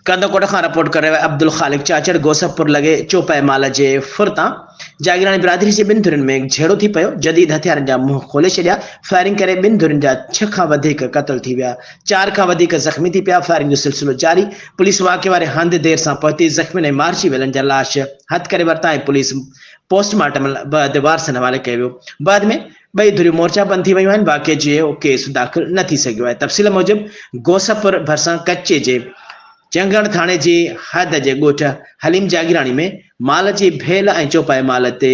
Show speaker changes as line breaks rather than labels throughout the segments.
ڪنڌڪوٽ کان رپورٽ ڪري رهيو آهي عبدالخالق چاچڙ گوسف پور لڳي چوپائي مال جي ڦر تان جاگيراڻي برادري جي ٻن ڌرين ۾ جهيڙو ٿي پيو جديد هٿيارن جا منهن کولي ڇڏيا فائرنگ ڪري ٻن ڌرين جا ڇهه کان وڌيڪ قتل ٿي ويا چار کان وڌيڪ زخمي ٿي پيا فائرنگ جو سلسلو جاري پوليس واقعي واري هنڌ دير سان پهتي زخمين ۽ مارجي ويلن جا لاش هٿ ڪري ورتا ۽ پوليس پوسٽ مارٽم بعد وارثن حوالي ڪيو ويو بعد ۾ ٻئي ڌريون مورچا بند ٿي ويون آهن، واقعي جي اهو ڪيس داخل نه ٿي سگهيو آهي. تفصيل موجب گوسفر ڀرسان ڪچي جي چنگڻ ٿاڻي جي حد جي ڳوٺ حليم جاگيراڻي ۾ مال جي ڀيل ۽ چوپائي مال تي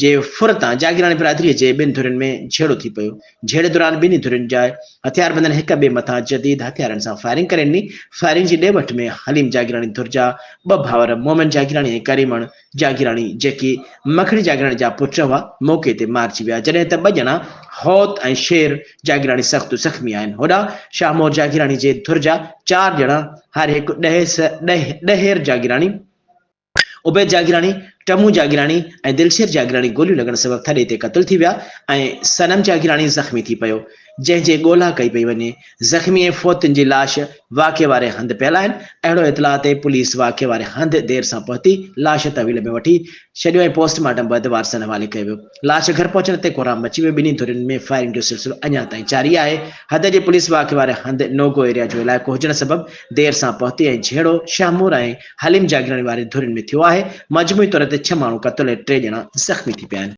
جي ڦر تان جاگيراڻي برادري جي ٻن ڌرين ۾ جهيڙو ٿي پيو، جهيڙي دوران ٻنهي ڌرين جا هٿياربندن هڪ ٻئي مٿان جديد هٿيارن سان فائرنگ ڪري ڏني، فائرنگ جي ڏي وٺ ۾ حليم جاگيراڻي ڌر جا ٻه ڀائر مومن جاگيراڻي ۽ ڪريمڻ جاگيراڻي جيڪي مکڙي جاگيراڻي جا پٽ هئا موقعي تي مارجي ويا جڏهن ته ٻه ڄڻا هوت ۽ شير جاگيراڻي سخت زخمي آهن هوڏانهن شاهمور جاگيراڻي جي ڌر جا چار ڄڻا هر هڪ ڏهير جاگيراڻي، عبيد جاگيراڻي، ٽمون جاگيراڻي ۽ دلشير جاگيراڻي گوليون لڳڻ سبب ٿڏي تي قتل ٿي ويا ۽ صنم جاگيراڻي زخمي ٿي پيو جنهن جي ڳولا ڪئي پئي وڃي، زخمي ۽ فوتين جي لاش واقعي واري هنڌ پيل آهن، اهڙو اطلاع تي پوليس واقعي واري هنڌ دير سان پهتي لاش تحويل ۾ وٺي ڇڏيو ۽ پوسٽ مارٽم بعد وارثن حوالي ڪيو ويو، لاش گهر پهچڻ تي ڪورام مچي ويو، ٻنهي ڌرين ۾ فائرنگ جو سلسلو اڃا تائين جاري آهي، حد جي پوليس واقعي واري هنڌ نوگو ايريا جو علائقو هجڻ سبب دير سان پهتي ۽ جهيڙو شاهمور ۽ حليم جاگيراڻي وارين ڌرين ۾ ٿيو آهي، مجموعي طور تي ڇهه ماڻهو قتل ۽ ٽي ڄڻا زخمي ٿي پيا آهن.